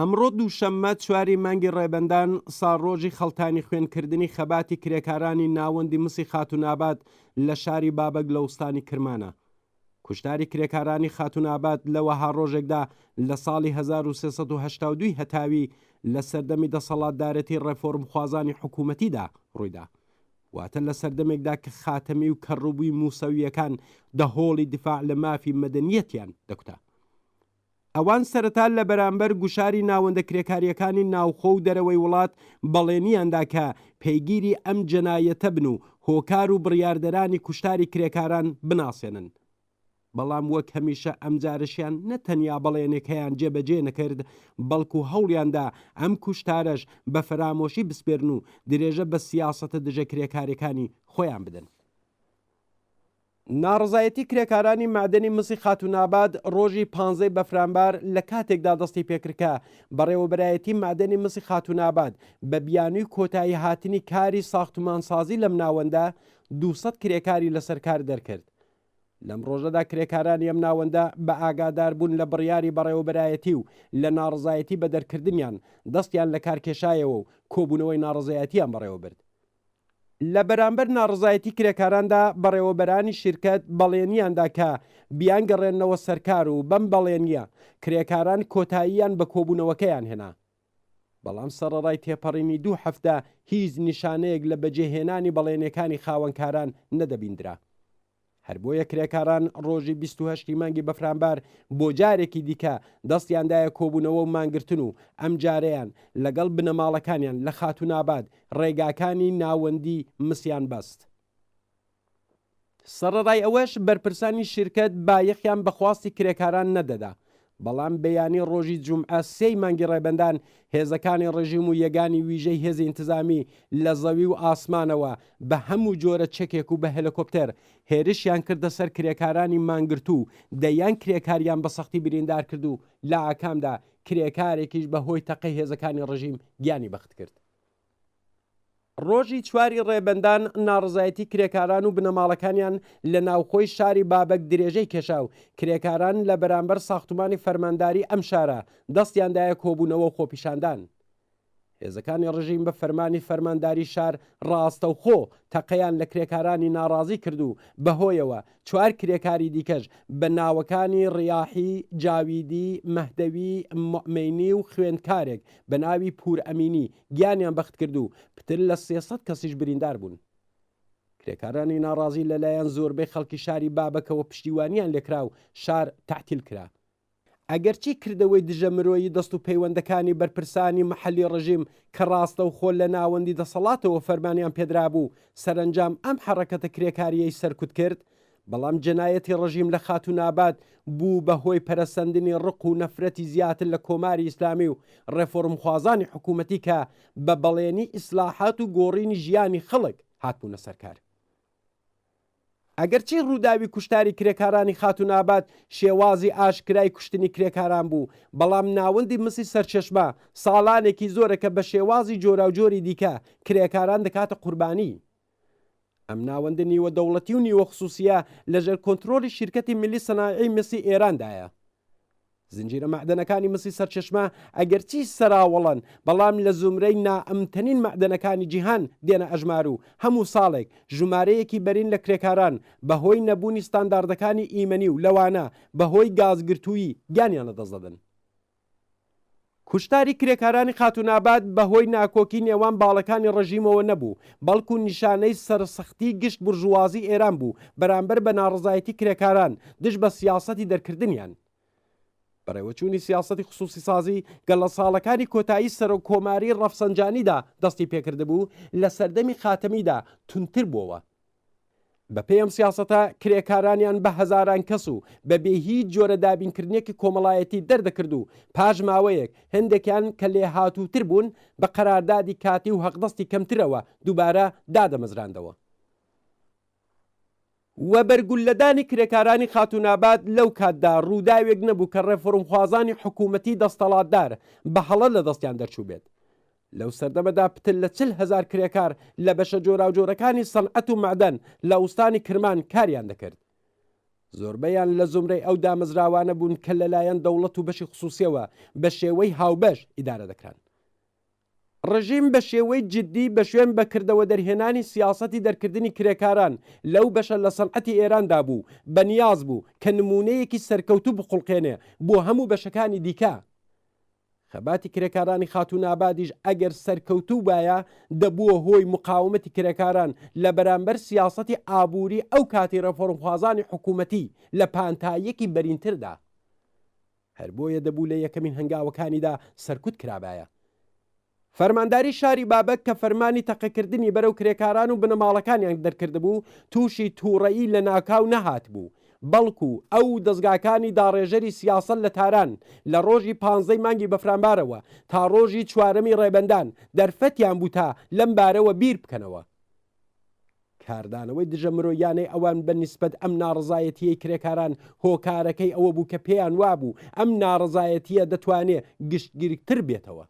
ئەمڕۆ دووشەممە چواری مانگی ڕێبەندان ساڵڕۆژی خەڵتانی خوێنکردنی خەباتی کرێکارانی ناوەندی مسی خاتوونابات لە شاری بابەک لە ئوستانی کرمانە. کوشتاری کرێکارانی خاتوونابات لە وەها ڕۆژێکدا لە ساڵی هەزار و سێ سەد و هەشتا و دوو هەتاوی لە سەردەمی دەسەڵاتدارێتی ڕێفۆرمخوازانی حکوومەتیدا ڕوویدا. واتە لە سەردەمێکدا کە خاتەمی و کەڕووی مووسەوییەکان دەهۆڵی دیفاع لە مافی مەدەنییەتیان دەکوتا. ئەوان سەرەتا لە بەرامبەر گوشاری ناوەندە کرێکارییەکانی ناوخۆ و دەرەوەی وڵات بەڵێنیان دا کە پێگیری ئەم جەنایەتە بن و هۆکار و بڕیاردەرانی کوشتاری کرێکاران بناسێنن، بەڵام وەک هەمیشە ئەمجارەشیان نە تەنیا بەڵێنەکەیان جێبەجێ نەکرد، بەڵکو هەوڵیان دا ئەم کوشتارەش بە فەرامۆشی بسپێرن و درێژە بە سیاسەتە دژە کرێکارییەکانی خۆیان بدەن. ناڕەزایەتی کرێکارانی مەعدەنی مسی خاتووناباد ڕۆژی پانزەی بەفرانبار لە کاتێکدا دەستی پێکرد کە بەڕێوەبەرایەتی مەعدەنی مسی خاتووناباد بە بیانووی کۆتایی هاتنی کاری ساختومانسازی لەم ناوەندە دوو سەد کرێکاری لەسەر کار دەرکرد. لەم ڕۆژەدا کرێکارانی ئەم ناوەندە بە ئاگادار بوون لە بڕیاری بەڕێوەبەرایەتی و لە ناڕەزایەتی بە دەرکردنیان دەستیان لە کار کێشایەوە و کۆبوونەوەی ناڕەزایەتیان بەڕێوە برد. لە بەرامبەر ناڕەزایەتی کرێکاراندا بەڕێوەبەرانی شیرکەت بەڵێنیاندا کە بیانگەڕێننەوە سەرکار و بەم بەڵێنییە کرێکاران کۆتاییان بە کۆبوونەوەکەیان هێنا، بەڵام سەڕەڕای تێپەڕینی دوو هەفتە هیچ نیشانەیەک لە بەجێهێنانی بەڵێنێکانی خاوەنکاران نەدەبیندرا. هەر بۆیە کرێکاران ڕۆژی 28 ی مانگی بەفرانبار بۆ جارێکی دیکە دەستیاندایە کۆبوونەوە و مانگرتن و ئەم جارەیان لەگەڵ بنەماڵەکانیان لە خاتوناباد ڕێگاکانی ناوەندی مسیان بەست. سەڕەڕای ئەوەش بەرپرسانی شیرکەت بایەخیان بە خواستی کرێکاران نەدەدا، بەڵام بەیانی ڕۆژی جومعە سێی مانگی ڕێبەندان هێزەکانی ڕژیم و یەگانی ویژەی هێزی ئینتزامی لە زەوی و ئاسمانەوە بە هەموو جۆرە چەکێک و بە هێلکۆپتێر هێرشیان کردە سەر کرێکارانی مانگرتوو و دەیان کرێکاریان بە سەختی بریندار کرد و لە ئاکامدا کرێکارێکیش بە هۆی تەقەی هێزەکانی ڕژیم گیانی بەختکرد. ڕۆژی چواری ڕێبەندان ناڕزایەتی کرێکاران و بنەماڵەکانیان لە ناوخۆی شاری بابەک درێژەی کێشا و کرێکاران لە بەرامبەر ساختومانی فەرمانداری ئەم شارە دەستیاندایە کۆبوونەوە و خۆپیشاندان. هێزەکانی ڕژیم بە فەرمانی فەرمانداری شار ڕاستەوخۆ تەقەیان لە کرێکارانی ناڕازی کرد و بەهۆیەوە چوار کرێکاری دیکەش بە ناوەکانی ڕیاحی، جاویدی، مەهدەوی، موئمەینی و خوێندکارێک بە ناوی پوور ئەمینی گیانیان بەخت کرد و پتر لە سێ سەد کەسیش بریندار بوون. کرێکارانی ناڕازی لەلایەن زۆربەی خەڵکی شاری بابەکەوە پشتیوانیان لێکرا و شار تەعتیل کرا. ئەگەرچی کردەوەی دژە مرۆیی دەست و پەیوەندەکانی بەرپرسانی مەحەلی ڕژیم کە ڕاستەوخۆ لە ناوەندی دەسەڵاتەوە فەرمانیان پێدرابوو سەرەنجام ئەم حەڕەکەتە کرێکاریەی سەرکوت کرد بەڵام جەنایەتی ڕژیم لە خاتوونابات بوو بە هۆی پەرەسەندنی ڕق و نەفرەتی زیاتر لە کۆماری ئیسلامی و ڕێفۆرمخوازانی حکوومەتی کە بە بەڵێنی ئیسلاحات و گۆڕینی ژیانی خەڵک هاتبوونە سەرکار. ئەگەرچی ڕووداوی کوشتاری کرێکارانی خاتوون ئاباد شێوازی ئاشکرای کوشتنی کرێکاران بوو، بەڵام ناوەندی مسی سەرچەشمە ساڵانێکی زۆرە کە بە شێوازی جۆراوجۆری دیکە کرێکاران دەکاتە قوربانیی. ئەم ناوەندە نیوە دەوڵەتی و نیوە خسووسییە لەژێر کۆنترۆڵی شیرکەتی میللی سەنایعی میسی ئێراندایە. زنجیرە مەعدەنەکانی مسی سەرچەشمە ئەگەرچی سەراوەڵەن بەڵام لە زومرەی نائەمنتەنین مەعدەنەکانی جیهان دێنە ئەژمار و هەموو ساڵێک ژومارەیەکی بەرین لە کرێکاران بە هۆی نەبوونی ستانداردەکانی ئیمەنی و لەوانە بە هۆی گازگرتوویی گیانیان لە دەست دەدەن. کوشتاری کرێکارانی خاتووناباد بە هۆی ناکۆکی نێوان باڵەکانی ڕژیمەوە نەبوو، بەڵکو نیشانەی سەرسختی گشت بورژوازی ئێران بوو بەرامبەر بە ناڕەزایەتی کرێکاران دژ بە سیاسەتی دەرکردنیان. بەڕێوەچوونی سیاسەتی خسووسیسازی گەر لە ساڵەکانی کۆتایی سەرۆک کۆماریی ڕەفسەنجانیدا دەستی پێکردبوو، لە سەردەمی خاتەمیدا توندتر بۆوە. بەپێی ئەم سیاسەتە کرێکارانیان بە هەزاران کەس و بە بێ هیچ جۆرە دابینکردنێکی کۆمەڵایەتی دەردەکرد و پاش ماوەیەک هەندێکیان کە لێ هاتووتر بوون بە قەراردادی کاتی و هەقدەستی کەمترەوە دووبارە دادەمەزراندەوە. وەبەرگوللەدانی کرێکارانی خاتووناباد لەو کاتدا ڕووداوێک نەبوو کە ڕێفۆرمخوازانی حکوومەتی دەستەڵاتدار بە هەڵە لە دەستیان دەرچووبێت. لەو سەردەمەدا پتر لە چل هەزار کرێکار لە بەشە جۆراوجۆرەکانی سەنعەت و مەعدەن لە ئوستانی کرمان کاریان دەکرد. زۆربەیان لە زومرەی ئەو دامەزراوانە بوون کە لەلایەن دەوڵەت و بەشی خسووسیەوە بە شێوەی هاوبەش ئیدارە دەکران. ڕژیم بە شێوەی جدی بە شوێن بە کردەوە دەرهێنانی سیاسەتی دەرکردنی کرێکاران لەو بەشە لە سەنعەتی ئێراندا بوو، بە نیاز بوو کە نموونەیەکی سەرکەوتوو بخوڵقێنێ بۆ هەموو بەشەکانی دیکە. خەباتی کرێکارانی خاتوونابادیش ئەگەر سەرکەوتوو بایە دەبووە هۆی مقاومەتی کرێکاران لە بەرامبەر سیاسەتی ئابووری ئەو کاتی ڕێفۆرمخوازانی حکوومەتی لە پانتاییەکی بەرینتردا. هەر بۆیە دەبوو لە یەکەمین هەنگاوەکانیدا سەرکوت کرابایە. فەرمانداری شاری بابەک کە فەرمانی تەقەکردنی بەرەو کرێکاران و بنەماڵەکانیان دەرکردبوو، تووشی تووڕەیی لەناکاو نەهاتبوو، بەڵکو ئەو و دەزگاکانی داڕێژەری سیاسەت لە تاران لە ڕۆژی پانزەی مانگی بەفرانبارەوە تا ڕۆژی چوارەمی ڕێبەندان دەرفەتیان بوو تا لەم بارەوە بیربکەنەوە. کاردانەوەی دژە مرۆییانەی ئەوان بە نیسبەت ئەم ناڕەزایەتییەی کرێکاران هۆکارەکەی ئەوە بوو کە پێیان وابوو ئەم ناڕەزایەتییە دەتوانێ گشتگیرکتر بێتەوە.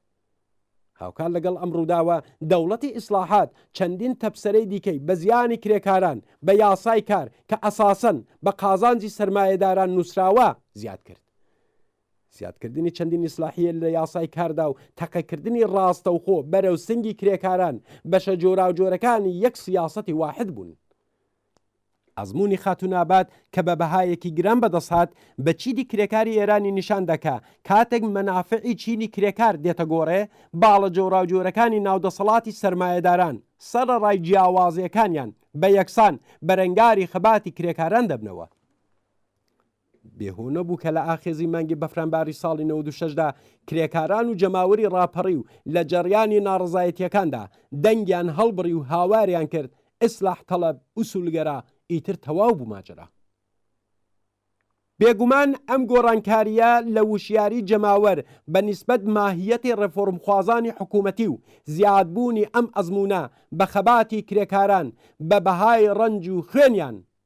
هاوکات لەگەڵ ئەم ڕووداوە دەوڵەتی ئیسڵاحات چەندین تەپسەرەی دیکەی بە زیانی کرێکاران بە یاسای کار کە ئەساسەن بە قازانجی سەرمایەداران نووسراوە زیاد کرد. زیادکردنی چەندین ئیسلاحیە لە یاسای کاردا و تەقەکردنی ڕاستەوخۆ بەرەو سنگی کرێکاران بەشە جۆراوجۆرەکانی یەک سیاسەتی واحد بوون. ئەزموونی خاتوون ئاباد کە بە بەهایەکی گران بەدەست هات بە چینی کرێکاری ئێرانی نیشان دا کە کاتێک مەنافعی چینی کرێکار دێتە گۆڕێ، باڵە جۆراوجۆرەکانی ناو دەسەڵاتی سەرمایەداران، سەرەڕای جیاوازییەکانیان، بە یەکسان بەرەنگاری خەباتی کرێکاران دەبنەوە. بێ هۆ نەبوو کە لە ئاخێزی مانگی بەفرانباری ساڵی نەوەد و شەش دا کرێکاران و جەماوەری ڕاپەڕی و لە جەڕیانی ناڕەزایەتییەکاندا دەنگیان هەڵبڕی و هاواریان کرد ئیسلاح تەڵەب، ئوسوولگەرا، ئیتر تەواو بوو ماجەرا. بێگومان ئەم گۆڕانکارییە لە وشیاری جەماوەر بە نیسبەت ماهییەتی ڕێفۆرمخوازانی حکوومەتی و زیادبوونی ئەم ئەزموونە بە خەباتی کرێکاران بە بەهای ڕەنج و خوێنیان